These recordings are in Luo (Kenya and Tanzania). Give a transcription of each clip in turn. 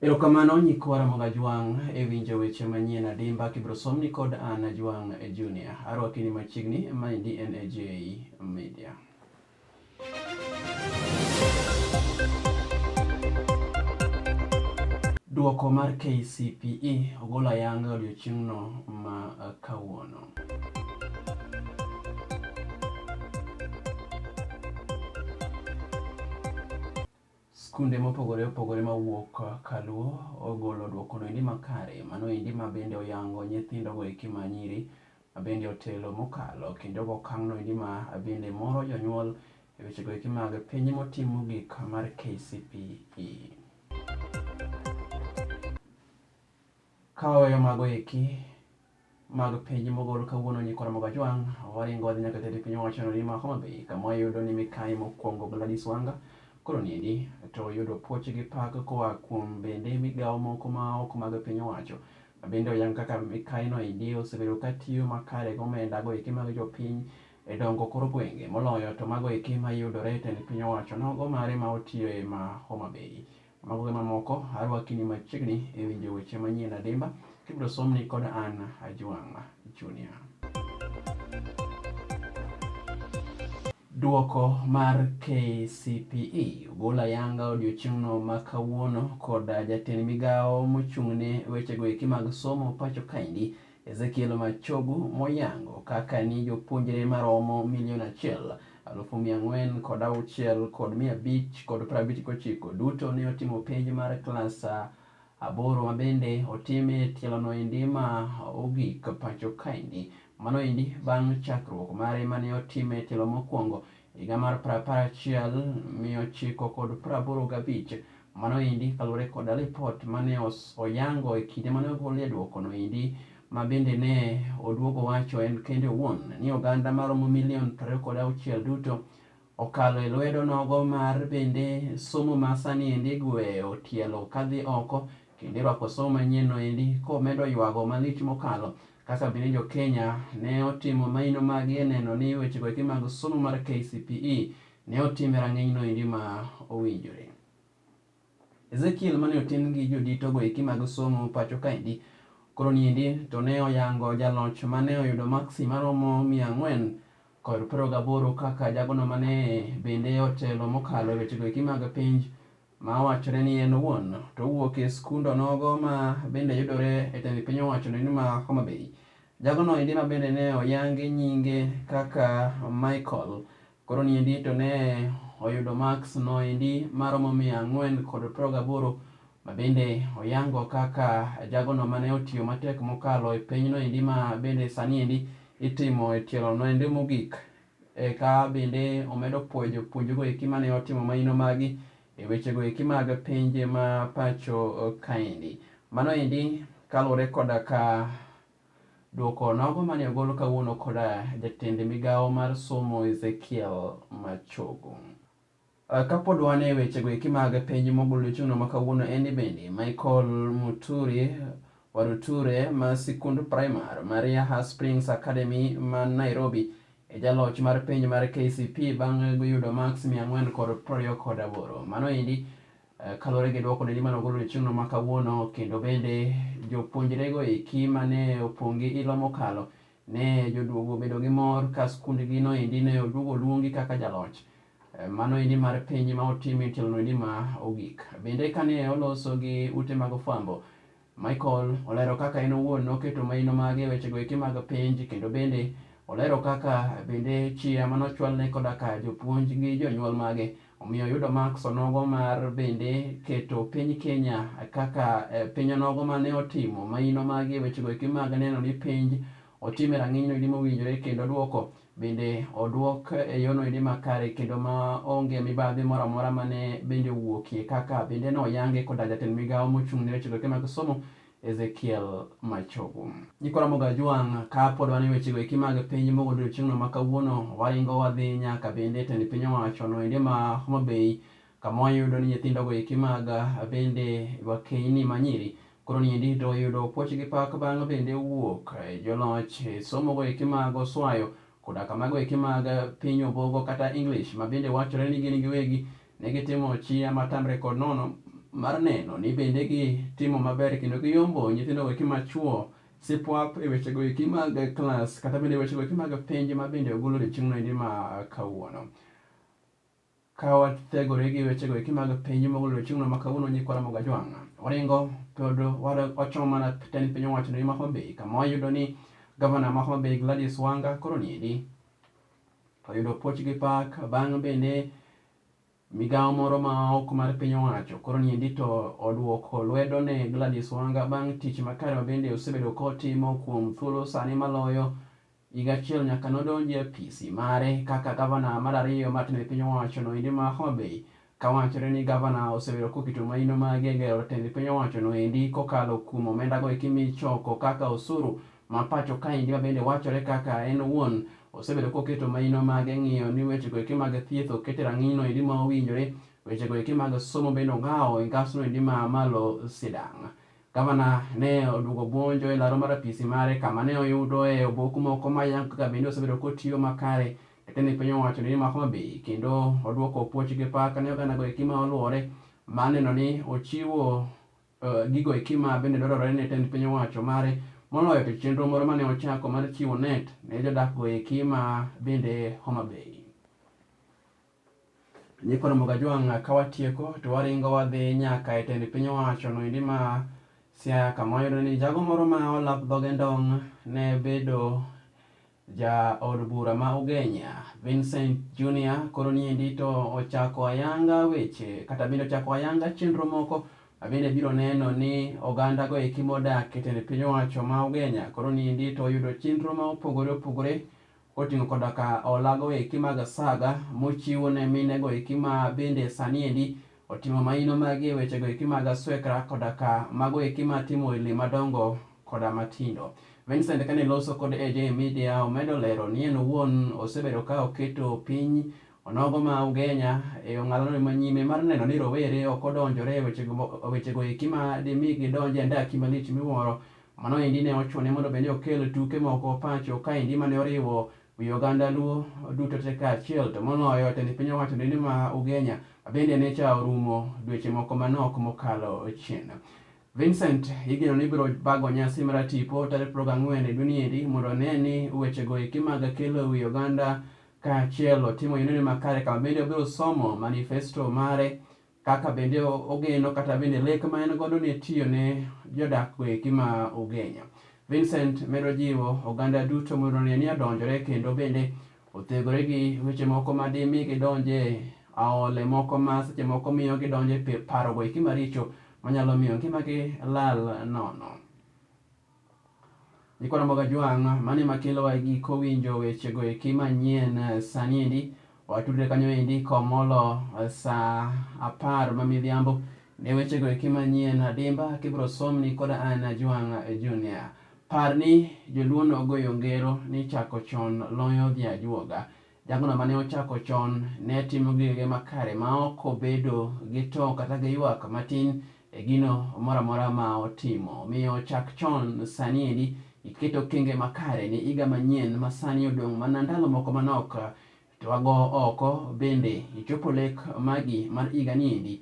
Erokamano nyikwa Ramogi Ajwang' e winjo weche manyien adimba kibiro somni kod an Ajwang' Junior. Arwakini machiegni, maendi en AJ Media. Duoko mar KCPE ogol ayanga odiochieng'no ma kawuono. Skunde mopogore opogore mawuok Kaluo ogolo dwokono endi makare, mano endi ma bende oyango nyithindo go eki ma nyiri ma bende otelo mokalo kendo go okang'no endi ma bende moro jonyuol e weche go eki mag penj motim mogik mar KCPE. Ka waweyo mago eki mag penj mogol kawuono ni Kora Mogajwang', waringo wadhi nyaka jatend piny owacho no ni ma Homa Bay kama wayudo ni mikayi mokwongo Gladys Wanga koro niendi to oyudo puoch gi pak koa kuom bende migawo moko ma ok mag piny owacho ma bende oyang kaka mikayi no endi osebedo ka tiyo makare gi omenda go eki mag jopiny e dongo kor gwenge moloyo to mago eki mayudore e tend piny owacho nogo mare ma otiyo e ma Homa Bay. Mago gi mamoko arwakini machiegni e winjo weche manyien adimba kibiro somni kod an Ajwang' Junior. Duoko mar KCPE ogol ayanga odiochieng'no ma kawuono kod jatend migawo mochung'ne wechego eki mag somo pacho kaendi Ezekiel Machogu moyango kaka ni jopuonjre maromo milion achiel alufu mia ang'wen kod auchiel kod mia abich kod prabich gochiko duto ne otimo penj mar klas aboro mabende otime tielono endi ma ogik pacho kaendi mano endi bang' chakruok mare mane otime tielo mokwongo higa mar prapar achiel mia ochiko kod praboro gabich mano endi kaluwore koda ripot mane oyango e kinde mane ogolie dwokono endi ma bende ne oduogo wacho en kende owuon ni oganda maromo milion prariyo kod auchiel duto okalo e lwedo nogo mar bende somo ma sani endi gweyo tielo kadhi oko kendo irwako somo manyienno endi komedo ywago malich mokalo Kaka bende jo Kenya ne otimo maino magi e neno ni wechego eki mag somo mar KCPE ne otim e rang'iny no endi ma owinjore. Ezekiel mane otin gi jodito go eki mag somo pacho kaendi koro niendi to ne oyango jaloch mane oyudo maksi maromo mia ang'wen kod piero gaboro kaka jagono mane bende otelo mokalo e wechego eki mag penj ma wachore ni en owuon to owuok e skund onogo ma bende yudore e tend piny owacho ni ma Homa Bay. Jagono endi ma bende ne oyangi nyinge kaka Michael koro ni endi to ne oyudo marks no endi maromo mia ang'wen kod piero gaboro ma bende oyango kaka jagono mane otiyo matek mokalo e penyno endi ma bende sani endi itimo e tielo no endi mogik. Eka bende omedo pwoyo jopuonjgo eki mane otimo maino magi e wechego eki mag pinje ma pacho kaendi. Mano endi kaluwore koda ka dwoko nogo mane ogol kawuono koda jatend migawo mar somo Ezekiel Machogu. Ah, kapod wan e wechego eki mag penj mogul chung'no ma kawuono en ni bende Michael Muturi Waruture ma sikund primar mar Yaha Springs Academy ma Nairobi e jaloch mar penj mar KCP bang' yudo maks mia ang'wen kod prariyo kod aboro. Mano endi eh, kaluwore gi dwoko neni mane ogol chieng'no ma kawuono kendo bende jopuonjrego eki mane opong' gi ilo mokalo Ne joduogo obedo gi mor ka skundgi noendi ne oduogo oluongi kaka jaloch. Eh, mano endi mar piny ma otim e tielo noendi ma ogik. Bende kane oloso gi ute mag ofwambo, Michael olero kaka en owuon noketo maino mage e wechego eki mag penj kendo bende olero kaka bende chia manochwalne koda ka jopuonj gi jonyuol mage Omiyo oyudo maks onogo mar bende keto piny Kenya kaka e, piny onogo ma ne otimo maino mage e wechego eki mag neno ni penj otim e rang'inyno edi mowinjore kendo dwoko bende odwok e yono edi makare kendo ma onge mibadhi moro amora ma ne bende owuokie kaka bende ne oyange koda jatend migawo mochung' ne wechego eki mag somo Ezekiel Machogu. Nyikora Mogajwang' ka pod wan e wechego eki mag piny mogo odiochieng'no ma kawuono waringo wadhi nyaka bende e tend piny owacho no endi ma Homa Bay kama wayudo ni nyithindogo eki mag bende wakeyni ma nyiri koro ni endi to oyudo puoch gi pak bang' bende wuok e joloch e somogo eki mag oswayo koda kamago eki mag piny obogo kata English ma bende wachore ni gin giwegi Ne gitimo chia matamre kod nono mar neno ni bende gitimo maber kendo giyombo nyithindo weki machuo sipwap e wechego eki mag klas kata bende wechego eki mag penj ma bende ogolo odiechieng'no endi ma kawuono ka wathegore gi wechego eki mag penj mogolo odiechieng'no ma kawuono nyikwara moga jwang' waringo pod wachomo mana tend piny owacho ni ma Homa Bay kama wayudo ni gavana ma Homa Bay Gladys Wanga koro niendi Oyudo puoch gi pak bang' bende migawo moro ma ok mar piny owacho koro niendi to oduoko lwedo ne Gladys Wanga bang' tich makare ma bende osebedo kotimo kuom thuolo sani maloyo higa achiel nyaka nodonji e apisi mare kaka gavana mar ariyo matne piny owacho noendi ma Homa Bay Ka wachore ni gavana osebedo koketo maino mage gero tend piny owacho no endi kokalo kuom omenda go eki michoko kaka osuru ma pacho kaendi ma bende wachore kaka en owuon osebedo koketo maino mage ng'iyo ni weche go eki mag thieth okete rang'iny no endi ma owinjore, weche go eki mag somo bende ong'awo e ngas no endi ma malo sidang'. Gavana ne oduogo buonjo e laro mar apisi mare kama ne oyudo e obok moko mayango kaka bende osebedo kotiyo makare Eka ne piny owacho ni mako mabii kendo odwoko puoch gi pak ne oganda go eki ma oluore ma neno ni ochiwo uh, gigo eki ma bende dwarore ne tend piny owacho mare moloyo to chenro moro mane ochako mar chiwo net ne jodak go eki ma bende Homa Bay. Nyikoro Mogajwang' ka watieko to waringo wadhi nyaka e tend piny owacho no endi ma Siaya kama wayudo ni jago moro ma olap dhoge ndong' ne bedo Ja od bura ma Ugenya, Vincent Junior, koro niendi to ochako ayanga weche kata bende ochako ayanga chenro moko abende biro neno ni oganda go eki modak e tend piny owacho ma Ugenya koro niendi to oyudo chenro ma opogore opogore koting'o koda ka olago eki mag saga mochiwo ne mine go eki ma bende sani endi Otimo maino magi e wechego eki mag aswekra koda ka mago eki ma atimo e le madongo koda matindo. Vincent kane loso kod AJ Media omedo lero ni en owuon osebedo ka oketo piny onogo ma Ugenya e ong'alano ma nyime mar neno ni rowere ok odonjore e wechego eki ma dimi gidonj e andaki malich miwuoro. Mano endi ne ochune mondo bende okel tuke moko pacho kaendi mane oriwo Wi oganda Luo duto te kaachiel to moloyo tend piny owacho dende ma Ugenya bende ne cha orumo dweche moko manok mokalo chien. Vincent igeno ni biro bago nyasi mar tipo tarik 24 e dweni endi mondo one ni wechego eki mag kelo wi oganda kaachiel otimo yonene makare kama bende obiro somo manifesto mare kaka bende ogeno kata bende lek ma en godo ne tiyo ne jodak weki ma Ugenya. Vincent medo jiwo oganda duto mondo ne ni odonjore kendo bende othegore gi weche moko ma dimi gidonje aole moko ma seche moko miyo gidonje parogo eki maricho manyalo miyo ngimagi lal nono. Niko na Mboga Jwang', mano ema kelowa e giko winjo wechego eki manyien eh, sani endi. Watudre kanyo endi komolo eh, saa apar ma midhiambo ne wechego eki manyien adimba kibiro somni koda an Jwang' eh, Junior. Par ni joluo nogoyo ngero ni chako chon loyo dhi ajuoga. Jagono mane ochako chon ne timo gigege makare ma ok obedo gi to kata gi ywak matin e gino moro amora ma otimo. Omiyo chak chon sani endi iket okenge makare ne iga manyien ma sani odong' mana ndalo moko manok to wago oko bende ichopo lek magi mar iga ni endi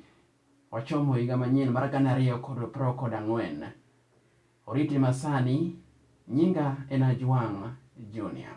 wachomo iga manyien mar gana ariyo kod pro kod ang'wen. Oriti masani, nyinga en Ajwang' Junior.